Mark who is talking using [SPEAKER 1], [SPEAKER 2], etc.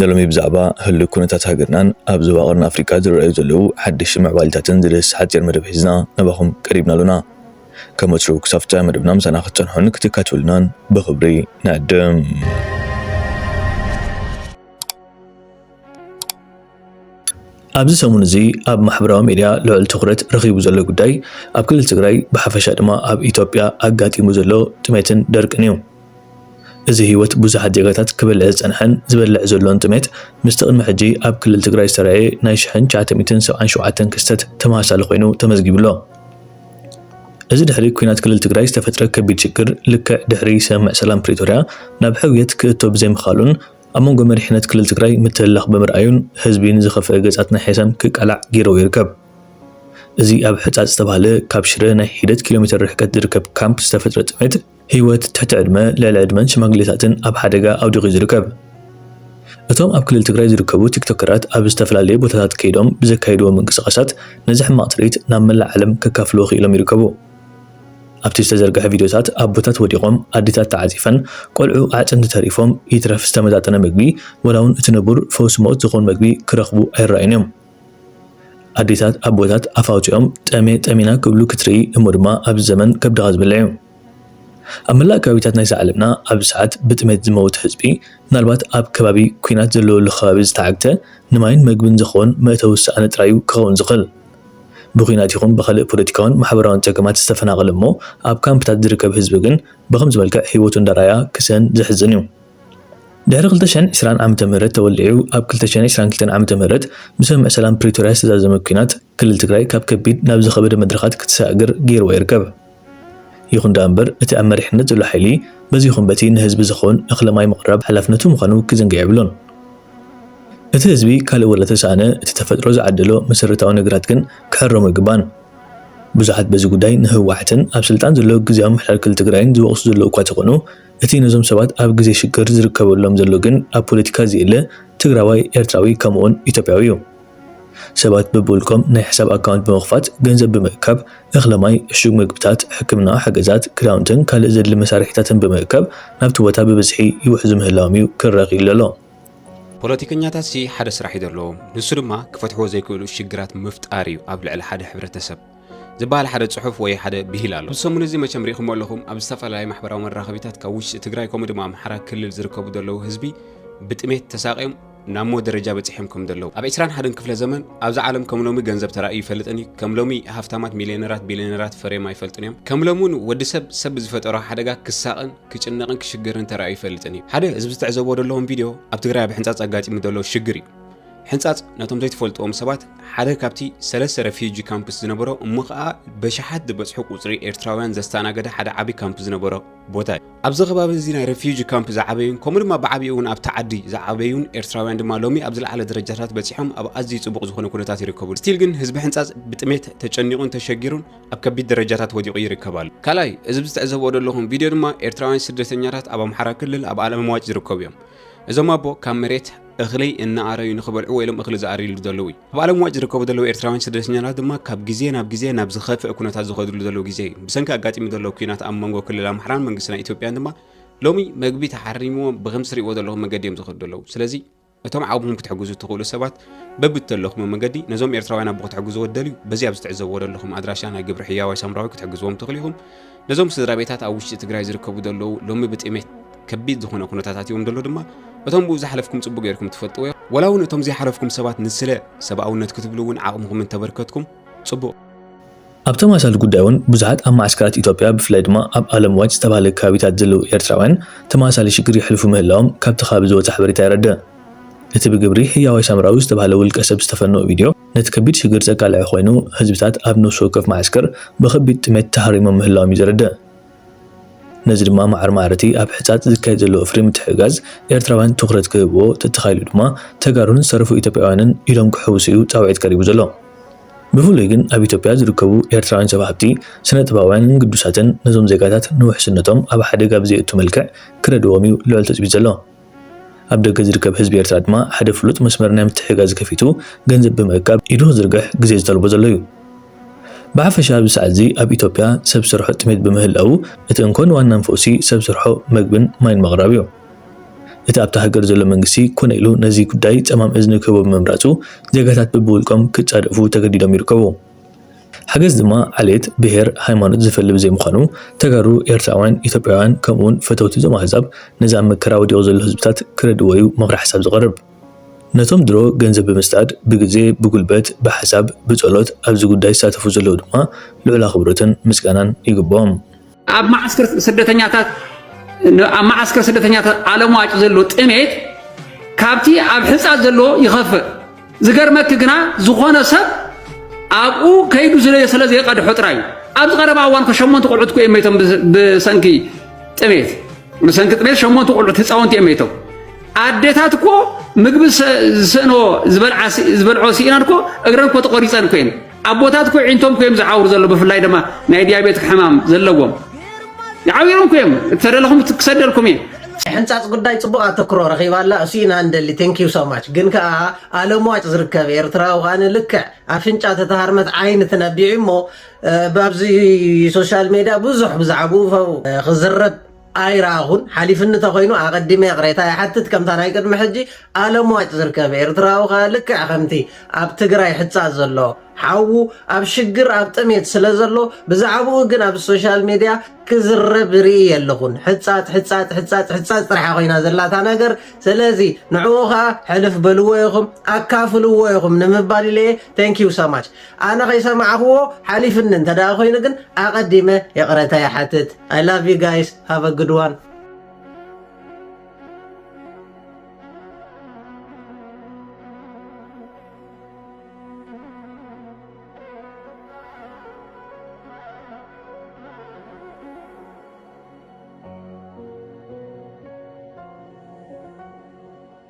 [SPEAKER 1] ንሎሚ ብዛዕባ ህሉው ኩነታት ሃገርናን ኣብ ዞባ ቀርኒ ኣፍሪቃ ዝረኣዩ ዘለዉ ሓደሽቲ ምዕባሊታትን ዝድህስስ ሓጺር መደብ ሒዝና ናባኹም ቀሪብና ኣሎና። ከም ወትሩ ክሳብ ፍጻመ መደብና ምሳና ክትጸንሑን ክትካትዑልናን ብኽብሪ ንዕድም። ኣብዚ ሰሙን እዚ ኣብ ማሕበራዊ ሚድያ ልዑል ትኹረት ረኺቡ ዘሎ ጉዳይ ኣብ ክልል ትግራይ ብሓፈሻ ድማ ኣብ ኢትዮጵያ ኣጋጢሙ ዘሎ ጥሜትን ደርቅን እዩ። እዚ ህይወት ብዙሓት ዜጋታት ክበልዕ ዝጸንሐን ዝበልዕ ዘሎን ጥሜት ምስቲ ቅድሚ ሕጂ ኣብ ክልል ትግራይ ዝተራእየ ናይ ሽሕን ትሽዓተ ሚእትን ሰብዓን ሸውዓተን ክስተት ተመሳሳሊ ኮይኑ ተመዝጊቡ ኣሎ። እዚ ድሕሪ ኩናት ክልል ትግራይ ዝተፈጥረ ከቢድ ሽግር ልክዕ ድሕሪ ስምምዕ ሰላም ፕሪቶርያ ናብ ሕውየት ክእቶ ብዘይምኽኣሉን ኣብ መንጎ መሪሕነት ክልል ትግራይ ምትህልላኽ ብምርኣዩን ህዝቢ ንዝኸፍኣ ገጻት ናይ ሔሳን ክቃላዕ ገይርዎ ይርከብ። እዚ ኣብ ሕጻጽ ዝተባህለ ካብ ሽረ ናይ ሒደት ኪሎ ሜተር ርሕቀት ዝርከብ ካምፕ ዝተፈጥረ ጥሜት ህይወት ትሕቲ ዕድመ፣ ልዕሊ ዕድመን ሽማግሌታትን ኣብ ሓደጋ ኣውዲቑ'ዩ ዝርከብ። እቶም ኣብ ክልል ትግራይ ዝርከቡ ቲክቶከራት ኣብ ዝተፈላለየ ቦታታት ከይዶም ብዘካይድዎ ምንቅስቓሳት ነዚ ሕማቕ ትርኢት ናብ መላእ ዓለም ከካፍልዎ ክኢሎም ይርከቡ። ኣብቲ ዝተዘርግሐ ቪድዮታት ኣቦታት ወዲቖም፣ ኣዴታት ተዓጺፈን፣ ቆልዑ ኣዕጽምቲ ተሪፎም፣ ይትረፍ ዝተመጣጠነ መግቢ፣ ዋላ'ውን እቲ ንቡር ፈውሲ ሞት ዝኸውን መግቢ ክረኽቡ ኣይረኣዩን እዮም። ኣዴታት ኣቦታት ኣፍ ኣውጺኦም ጠምየ ጠሚና ክብሉ ክትርኢ እሞ ድማ ኣብዚ ዘመን ከብድኻ ዝበልዕ እዩ። ኣብ መላእ ከባቢታት ናይዛ ዓለምና ኣብዚ ሰዓት ብጥሜት ዝመውት ህዝቢ ምናልባት ኣብ ከባቢ ኲናት ዘለወሉ ከባቢ ዝተዓግተ ንማይን መግብን ዝኸውን መእተዊ ዝሰኣነ ጥራይ እዩ ክኸውን ዝኽእል። ብኩናት ይኹን ብኻልእ ፖለቲካውን ማሕበራውን ጸገማት ዝተፈናቐለ እሞ ኣብ ካምፕታት ዝርከብ ህዝቢ ግን ብኸምዚ መልክዕ ህይወቱ እንዳርኣያ ክስእን ዘሕዝን እዩ። ድሕሪ ክልተ ሽሕን ዕስራን ዓመተ ምህረት ተወሊዑ ኣብ ክልተ ሽሕን ዕስራን ክልተን ዓመተ ምህረት ብስምምዕ ሰላም ፕሪቶርያ ዝተዛዘመ ኩናት ክልል ትግራይ ካብ ከቢድ ናብ ዝኸበደ መድረኻት ክትሰጋገር ገይርዋ ይርከብ። ይኹን ደኣ እምበር እቲ ኣብ መሪሕነት ዘሎ ሓይሊ በዚ ይኹን በቲ ንህዝቢ ዝኸውን እኽለ ማይ ምቕራብ ሓላፍነቱ ምዃኑ ክዝንግዕ የብሉን። እቲ ህዝቢ ካልእ ወላ ተሰኣነ እቲ ተፈጥሮ ዝዓደሎ መሰረታዊ ነገራት ግን ክሕረሙ ኣይግባእን። ብዙሓት በዚ ጉዳይ ንህወሓትን ኣብ ስልጣን ዘሎ ግዝያዊ ምምሕዳር ክልል ትግራይን ዝወቕሱ ዘለዉ እኳ ተኾኑ እቲ ነዞም ሰባት ኣብ ግዜ ሽግር ዝርከበሎም ዘሎ ግን ኣብ ፖለቲካ ዝየለ ትግራዋይ ኤርትራዊ ከምኡውን ኢትዮጵያዊ እዩ። ሰባት በብውልቆም ናይ ሕሳብ ኣካውንት ብምኽፋት ገንዘብ ብምእካብ፣ እኽሊ ማይ፣ ዕሹግ መግብታት፣ ሕክምናዊ ሓገዛት፣ ክዳውንትን ካልእ ዘድሊ መሳርሒታትን ብምእካብ ናብቲ ቦታ ብብዝሒ ይውሕዙ ምህላዎም'ዩ ክረኽይል ዘሎ። ፖለቲከኛታትሲ
[SPEAKER 2] ሓደ ስራሕ እዩ ዘለዎም፣ ንሱ ድማ ክፈትሕዎ ዘይክእሉ ሽግራት ምፍጣር እዩ ኣብ ልዕሊ ሓደ ሕብረተሰብ። ዝበሃል ሓደ ጽሑፍ ወይ ሓደ ብሂል ኣሎ። እዚ ሰሙን እዚ መቸም ርኢኹሞ ኣለኹም ኣብ ዝተፈላለዩ ማሕበራዊ መራኸቢታት ካብ ውሽጢ ትግራይ ከምኡ ድማ ኣምሓራ ክልል ዝርከቡ ዘለዉ ህዝቢ ብጥሜት ተሳቕዮም ናብ ሞት ደረጃ በጺሖም ከም ዘለዉ ኣብ ዕስራን ሓደን ክፍለ ዘመን ኣብዚ ዓለም ከም ሎሚ ገንዘብ ተራእዩ ይፈልጥን እዩ ከም ሎሚ ሃፍታማት ሚልዮነራት ቢልዮነራት ፈርዮም ኣይፈልጡን እዮም ከም ሎሚ እውን ወዲ ሰብ ሰብ ብዝፈጠሮ ሓደጋ ክሳቕን ክጭነቕን ክሽገርን ተራእዩ ይፈልጥን እዩ ሓደ ህዝቢ ዝተዕዘቦ ዘለዎም ቪድዮ ኣብ ትግራይ ኣብ ሕንጻጽ ኣጋጢሙ ዘሎ ሽግር እዩ ሕንጻጽ ነቶም ዘይትፈልጥዎም ሰባት ሓደ ካብቲ ሰለስተ ረፊጂ ካምፕስ ዝነበሮ እሞ ከኣ በሽሓት ዝበጽሑ ቁጽሪ ኤርትራውያን ዘስተኣናገደ ሓደ ዓቢ ካምፕ ዝነበሮ ቦታ እዩ ኣብዚ ከባቢ እዚ ናይ ረፊጂ ካምፕ ዝዓበዩን ከምኡ ድማ ብዓብኡ እውን ኣብቲ ዓዲ ዝዓበዩን ኤርትራውያን ድማ ሎሚ ኣብ ዝለዓለ ደረጃታት በጺሖም ኣብ ኣዝዩ ጽቡቕ ዝኾነ ኩነታት ይርከቡ ስቲል ግን ህዝቢ ሕንጻጽ ብጥሜት ተጨኒቑን ተሸጊሩን ኣብ ከቢድ ደረጃታት ወዲቑ ይርከብ ኣሎ ካልኣይ እዚ ብዝትዕዘብኦ ዘለኹም ቪድዮ ድማ ኤርትራውያን ስደተኛታት ኣብ ኣምሓራ ክልል ኣብ ኣለምዋጭ ዝርከቡ እዮም እዞም ኣቦ ካብ መሬት እኽሊ እናኣረዩ ንክበልዑ ወይሎም እኽሊ ዝኣርዩሉ ዘለዉ እዩ ኣብ ዓለም ዋጭ ዝርከቡ ዘለዉ ኤርትራውያን ስደተኛታት ድማ ካብ ግዜ ናብ ግዜ ናብ ዝኸፍእ ኩነታት ዝኸድሉ ዘለዉ ግዜ እዩ ብሰንኪ ኣጋጢሙ ዘለዉ ኩናት ኣብ መንጎ ክልል ኣምሓራን መንግስቲ ናይ ኢትዮጵያን ድማ ሎሚ መግቢ ተሓሪምዎም ብከምዚ ትሪእዎ ዘለኹም መገዲ እዮም ዝኸዱ ዘለዉ ስለዚ እቶም ዓቕምኹም ክትሕግዙ እትኽእሉ ሰባት በብተለኹም መገዲ ነዞም ኤርትራውያን ኣቦ ክትሕግዝዎ ትደልዩ በዚ ኣብ ዝተዕዘብዎ ዘለኹም ኣድራሻ ናይ ግብሪ ሕያዋይ ሳምራዊ ክትሕግዝዎም ትኽእሉ ኢኹም ነዞም ስድራቤታት ኣብ ውሽጢ ትግራይ ዝርከቡ ዘለዉ ሎሚ ብጥሜት ከቢድ ዝኾነ ኩነታት ኣትዮም ደሎ ድማ እቶም ብኡ ዝሓለፍኩም ጽቡቅ ጌርኩም ትፈልጥዎ ወላ እውን እቶም ዘይሓለፍኩም ሰባት ንስለ ሰብኣውነት ክትብሉ እውን ዓቕምኹም እንተበርከትኩም ጽቡቅ ኣብ
[SPEAKER 1] ተመሳሳሊ ጉዳይ እውን ብዙሓት ኣብ መዓስከራት ኢትዮጵያ ብፍላይ ድማ ኣብ ኣለም ዋጭ ዝተባህለ ከባቢታት ዘለዉ ኤርትራውያን ተመሳሳሊ ሽግር የሕልፉ ምህላዎም ካብቲ ከባቢ ዝወጸ ሓበሬታ የረድእ። እቲ ብግብሪ ህያዋይ ሳምራዊ ዝተባህለ ውልቀ ሰብ ዝተፈነወ ቪድዮ፣ ነቲ ከቢድ ሽግር ዘቃልዐ ኮይኑ፣ ህዝብታት ኣብ ነፍሲ ወከፍ መዓስከር ብኸቢድ ጥሜት ተሃሪሞም ምህላዎም እዩ ዘረድእ። ነዚ ድማ ማዕረ ማዕረ'ቲ ኣብ ሕጻጽ ዝካየድ ዘሎ ወፍሪ ምትሕግጋዝ ኤርትራውያን ትኹረት ክህብዎ፣ ተተኻኢሉ ድማ ተጋሩን ዝተረፉ ኢትዮጵያውያንን ኢዶም ክሕውሱ እዩ ጻውዒት ቀሪቡ ዘሎ። ብፍሉይ ግን ኣብ ኢትዮጵያ ዝርከቡ ኤርትራውያን ሰብ ሃብቲ፣ ስነጥበባውያንን ግዱሳትን ነዞም ዜጋታት ንውሕስነቶም ኣብ ሓደጋ ብዘየእቱ መልክዕ ክረድእዎም እዩ ልዑል ትጽቢት ዘሎ። ኣብ ደገ ዝርከብ ህዝቢ ኤርትራ ድማ ሓደ ፍሉጥ መስመር ናይ ምትሕግጋዝ ከፊቱ ገንዘብ ብምእካብ ኢዱ ክዝርግሕ ግዜ ዝጠልቦ ዘሎ እዩ። ብሓፈሻ ኣብዚ ሰዓትዚ ኣብ ኢትዮጵያ ሰብ ሰርሖ ጥሜት ብምህላዉ እቲ እንኮን ዋናን ፈውሲ ሰብ ሰርሖ መግብን ማይን ምቕራብ እዩ። እቲ ኣብታ ሃገር ዘሎ መንግስቲ ኮነ ኢሉ ነዚ ጉዳይ ጸማም እዝኒ ክህቦ ብምምራጹ ዜጋታት ብብውልቆም ክጻደፉ ተገዲዶም ይርከቡ። ሓገዝ ድማ ዓሌት፣ ብሄር፣ ሃይማኖት ዝፈሊ ብዘይምዃኑ ተጋሩ፣ ኤርትራውያን፣ ኢትዮጵያውያን ከምኡ'ውን ፈተውቲ እዞም ኣህዛብ ነዚ ኣብ መከራ ወዲቑ ዘሎ ህዝብታት ክረድእዎ'ዩ ምኽረ ሓሳብ ዝቐርብ። ነቶም ድሮ ገንዘብ ብምስዳድ፣ ብግዜ፣ ብጉልበት፣ ብሓሳብ፣ ብጸሎት ኣብዚ ጉዳይ ዝሳተፉ ዘለዉ ድማ ልዑል ኣኽብሮትን ምስጋናን ይግብኦም። ኣብ መዓስከር
[SPEAKER 3] ስደተኛታት ኣብ መዓስከር ስደተኛታት ኣለምዋጭ ዘሎ ጥሜት ካብቲ ኣብ ሕፃት ዘሎ ይኸፍእ ዝገርመኪ ግና ዝኾነ ሰብ ኣብኡ ከይዱ ዝለየ ስለ ዘይቀድሖ ጥራይ እዩ ኣብዚ ቀረባ እዋን ኮ ሸሞንተ ቆልዑት ኮ እዮም መይቶም ብሰንኪ ጥሜት ብሰንኪ ጥሜት ሸሞንተ ቆልዑት ህፃውንቲ እዮም መይቶም ኣዴታት እኮ ምግቢ ዝስእኖ ዝበልዖ ስኢናን እኮ እግረን እኮ ተቆሪፀን እኮ እየን ኣቦታት እኮ ዒንቶም ኮዮም ዝዓውሩ ዘሎ ብፍላይ ድማ ናይ ዲያቤት ሕማም ዘለዎም ይዓብሮም ኮዮም እተደለኹም ክሰደልኩም እየ ሕንፃፅ ጉዳይ
[SPEAKER 4] ፅቡቅ ኣተክሮ ረኺባ ኣላ እሱ ኢና እንደሊ ቴንኪዩ ሶማች ግን ከዓ ኣለምዋጭ ዝርከብ ኤርትራዊ ከዓ ንልክዕ ኣፍንጫ ተተሃርመት ዓይኒ ትነቢዑ እሞ ብኣብዚ ሶሻል ሜድያ ብዙሕ ብዛዕብኡ ክዝረብ ኣይረኣኹን ሓሊፍኒ እንተኾይኑ ኣቐዲመ ይቕሬታ ይሓትት ከምታ ናይ ቅድሚ ሕጂ ኣለምዋጭ ዝርከብ ኤርትራዊ ከኣ ልክዕ ከምቲ ኣብ ትግራይ ሕጻጽ ዘሎ ሓዉ ኣብ ሽግር ኣብ ጥሜት ስለ ዘሎ ብዛዕብኡ ግን ኣብ ሶሻል ሜድያ ክዝረብ ርኢ የለኹን ሕጻጽ ሕጻጽ ሕጻጽ ሕጻጽ ጥራሕ ኮይና ዘላታ ነገር ስለዚ ንዕኡ ከኣ ሕልፍ በልዎ ኢኹም ኣካፍልዎ ኢኹም ንምባል ኢለ ተንኪዩ ሰማች ኣነ ከይሰማዕክዎ ሓሊፍኒ እንተ ኮይኑ ግን ኣቀዲመ ይቅረታ ይሓትት ኣይ ላቭ ዩ ጋይስ ሃቭ ኣ ግድ ዋን።